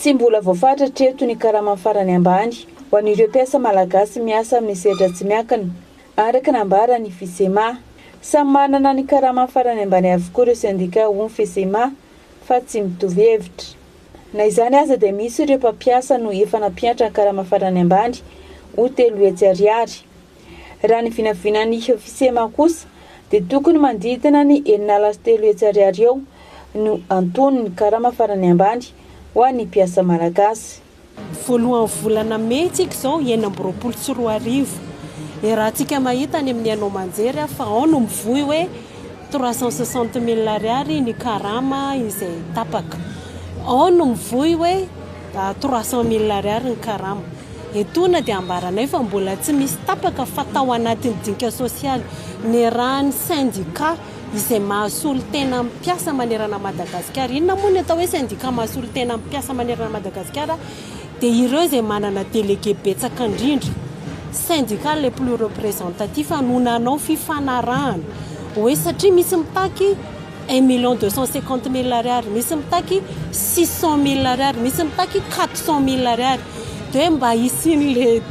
Tsy mbola voafaritra hatreto ny karama farany ambany ho an'ireo mpiasa malagasy miasa amin'ny sehatra tsy miankina, araka ny nambaran'ny Fisema. Samy manana ny karama farany ambany avokoa ireo sendika hoy ny Fisema fa tsy mitovy hevitra. Na izany aza dia misy ireo mpampiasa no efa nampiantra ny karama farany ambany ho telo hetsy ariary. Raha ny vinavinan'ny Fsema kosa dia tokony manodidina ny herinala sy telo hetsy ariary eo no anton'ny karama farany ambany ho an'ny mpiasa malagasy. Voalohan'ny volana mey tsika izao enina amby roapolo sy roa arivo. Iarahantsika mahita any amin'ny haino aman-jery fa ao no mivoy hoe. Trois cent soixante mille ariary ny karama izay tapaka. Ao no mivoy hoe trois cent mille ariary ny karama. Etoana dia ambaranay fa mbola tsy misy tapaka fa tao anatin'ny dinika sosialy niarahan'ny sendika izay mahasolo tena amin'ny mpiasa manerana an'i Madagasikara. Inona moa ny atao hoe sendika mahasolo tena amin'ny mpiasa manerana an'i Madagasikara? dia ireo izay manana délégué betsaka indrindra, syndicat le plus representatif no nanao fifanarahana hoe satria misy mitaky un million deux cent cinquante mille ariary, misy mitaky six cent mille ariary, misy mitaky quatre cent mille ariary dia hoe mba hisian'ilay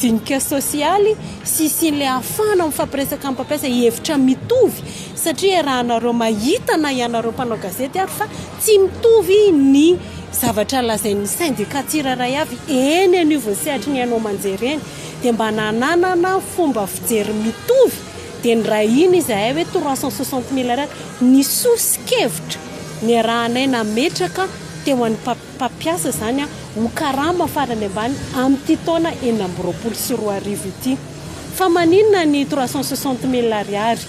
dinika sosialy sy hisian'ilay hahafahana mifampiresaka amin'ny mpampiasa hevitra mitovy satria iarahanareo mahita na ianareo mpanao gazety ary fa Tsy mitovy ny zavatra lazain'ny sendika tsirairay avy eny anivon'ny sehatry ny haino aman-jery eny dia mba nananana fomba fijery mitovy dia nirahina izahay hoe trois cent soixante mille ariary ny soso-kevitra niarahanay nametraka teo an'ny mpampiasa izany ho karama farany ambany amin'ity taona enina amby roapolo sy roa arivo ity fa maninona ny trois cent soixante mille ariary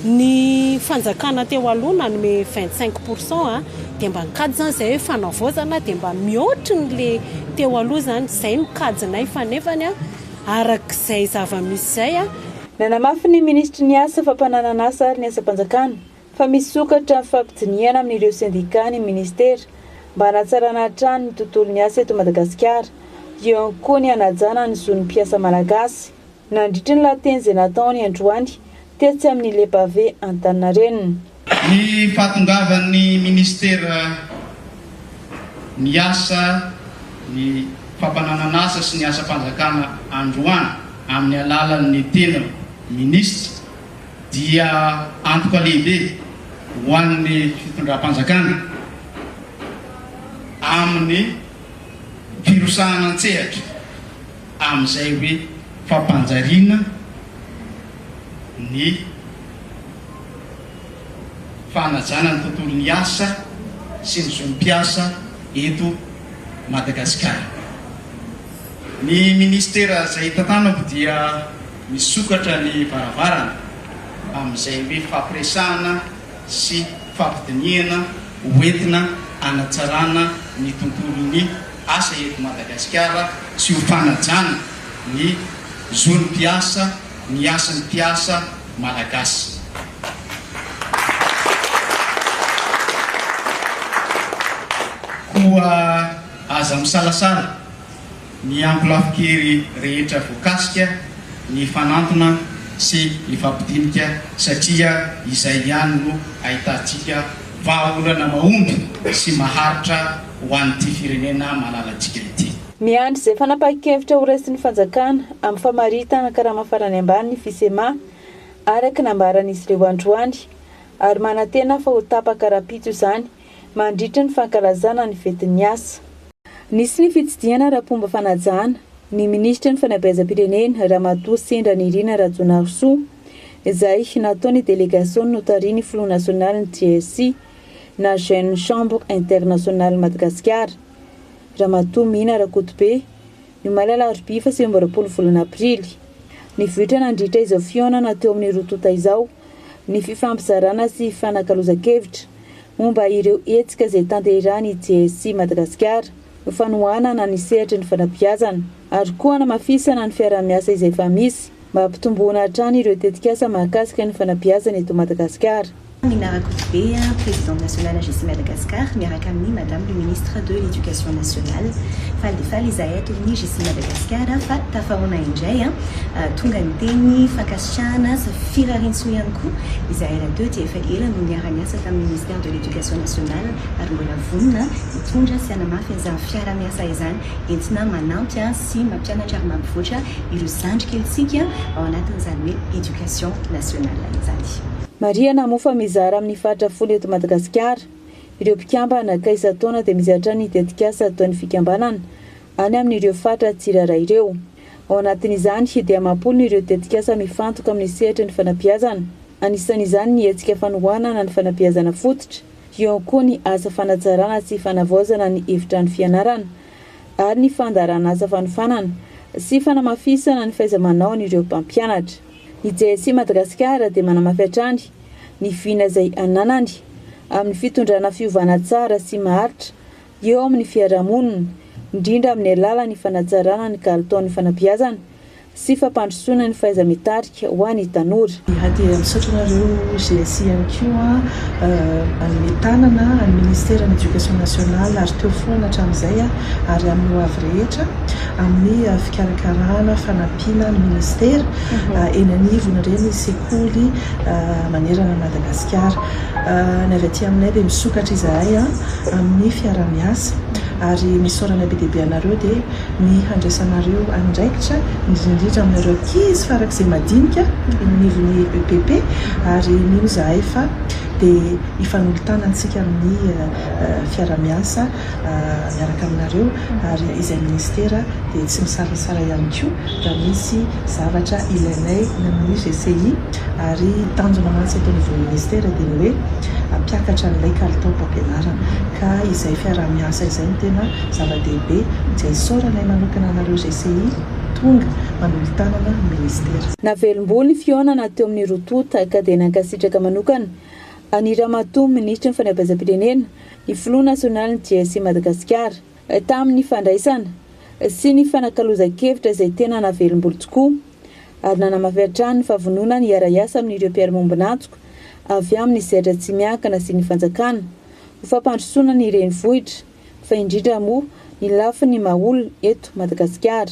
Ny fanjakana teo aloha nanome vingt cinq pour cent a, dia mba nikajy izany izay hoe fanavaozana dia mba mihoatry ny le teo aloha izany, izay no kajinay fa nefany a araka izay zava-misy izay a, Nanamafy ny minisitry ny Asa, fampananan'asa ary ny asam-panjakana fa misokatra amin'ny fampidinihana amin'ireo sendikà ny minisitera mba hanatsarana hatrany ny tontolon'ny asa eto Madagasikara, eo ihany koa ny hanajana ny zon'ny mpiasa malagasy. Nandritra ny lahateny izay nataony androany tetsy amin'ny Le Pavé Antaninarenina, Ny fahatongavan'ny Minisitera miasa ny fampananan'asa sy ny asam-panjakana androany amin'ny alalan'ny tena Minisitra dia antoka lehibe ho an'ny fitondram-panjakana amin'ny firosahana an-tsehatra. amin'izay hoe fampanjariana ny fanajana ny tontolon'ny asa sy ny zon'ny mpiasa eto Madagasikara. Ny Ministera izay tantanako dia misokatra ny varavarana amin'izay hoe fampiresahana sy fampidinihana ho entina hanatsarana ny tontolon'ny asa eto Madagasikara sy ho fanajana ny zon'ny mpiasa ny hasin'ny mpiasa Malagasy. Koa aza misalasala. Miampy lafin-kery rehetra voakasika ny hifanantona sy hifampidinika satria izay ihany no ahitantsika vahaolana mahomby sy maharitra ho an'ity firenena malalantsika ity. Miandry izay fanapahan-kevitra horaisin'ny fanjakana amin'ny famaritana karama farany ambany ny Fisema, araka ny nambaran'izy ireo androany, ary manantena fa ho tapaka rahampitso izany mandritra ny fankalazana ny fetin'ny asa. Nisy ny fitsidihana ara-pomba fanajana ny minisitry ny fanabeazam-pirenena Ramatoa Sendra Nirina Rajaonarisoa izay nataon'ny delegasion'ny notarihin'ny filoha nasionalin'ny JSC na Jeune Chambre Internationale Madagasikara Ramatoa Mina Rakotobe Ny omaly alarobia faha sivy amby roapolo volana aprily, nivoitra nandritra izao fihaonana teo amin'ny roa tonta izao ny fifampizarana sy fifanakalozan-kevitra momba ireo hetsika izay tanterahin'ny JSC Madagasikara ho fanohanana ny sehatry ny fanabeazana ary koa hanamafisana ny fiaraha-miasa izay efa misy Mampitomboana hatrany ireo tetikasa mahakasika ny fanabeazana eto Madagasikara. Amina Rakotobe, Présidente Nationale AGECI Madagascar, miaraka amin'ny Madame le Ministre de l'Education Nationale. Faly dia faly izahay ato amin'ny AGECI Madagascar fa tafahaona indray tonga ny teny fankasitrahana sy firariantsoa ihany koa izahay rahateo dia efa ela no niara-niasa tamin'ny Ministère de l'Education Nationale ary mbola vonona hitondra sy hanamafy izany fiara-miasa izany entina manampy sy mampianatra ary mampivoatra ireo zandry kelintsika ao anatin'izany hoe éducation nationale izany. Marihana moa fa mizara amin'ny faritra folo eto Madagasikara ireo mpikambana ka isan-taona dia misy hatrany ny tetikasa ataon'ny fikambanana any amin'ireo faritra tsirairay ireo. Ao anatin'izany dia amam-polony ireo tetikasa mifantoka amin'ny sehatry ny fanabeazana, anisan'izany ny hetsika fanohanana ny fanabeazana fototra, eo koa ny asa fanatsarana sy fanavaozana ny efitrano fianarana, ary ny fandaharan'asa fanofanana sy fanamafisana ny fahaiza-manaon'ireo mpampianatra. Ny JSC Madagasikara dia manamafy hatrany ny vina izay ananany amin'ny fitondrana fiovana tsara sy maharitra eo amin'ny fiarahamonina, indrindra amin'ny alalan'ny fanatsarana ny kalitaon'ny fanabeazana sy fampandrosoana ny fahaiza-mitarika ho an'ny tanora. Iray dia misaotra anareo GSI ihany koa, hanome tanana an'ny Ministeran'ny Education Nationale ary teo foana hatramin'izay ary amin'ny ho avy rehetra amin'ny fikarakarana, fanampiana ny Ministera eny anivon'ireny sekoly manerana an'i Madagasikara. Ny avy aty aminay dia misokatra izahay amin'ny fiaraha-miasa ary ny isaoranay be dia be anareo dia ny handraisanareo andraikitra, indrindra indrindra aminareo ankizy farak'izay madinika eny anivon'ny EPP, ary mino izahay fa dia hifanolo-tanantsika amin'ny fiarahamiasa miaraka aminareo, ary izay minisitera dia tsy misalasala ihany koa raha misy zavatra ilainay ny amin'ny GCI, ary tanjona mantsy eto anivon'ny minisitera dia ny hoe hampiakatra an'ilay kalitaom-pampianarana, ka izay fiarahamiasa izay no tena. zava-dehibe dia isaorana ahy manokana anareo GCI tonga manolo-tanana ny Ministera. Navelom-bolo ny fihaonana teo amin'ny roa tonta ka dia nankasitraka manokana an'i Ramatoa Minisitry ny Fanabeazam-pirenena ny Filoha Nasionalin'ny GSI Madagasikara tamin'ny fandraisana sy ny fanakalozan-kevitra izay tena navelom-bolo tokoa ary nanamafy hatrany ny fahavononany hiara-hiasa amin'ireo mpiara-miombon'antoka avy amin'ny sehatra tsy miankina sy ny fanjakana ho fampandrosoana ny renivohitra fa indrindra moa ny lafiny maha olona eto Madagasikara.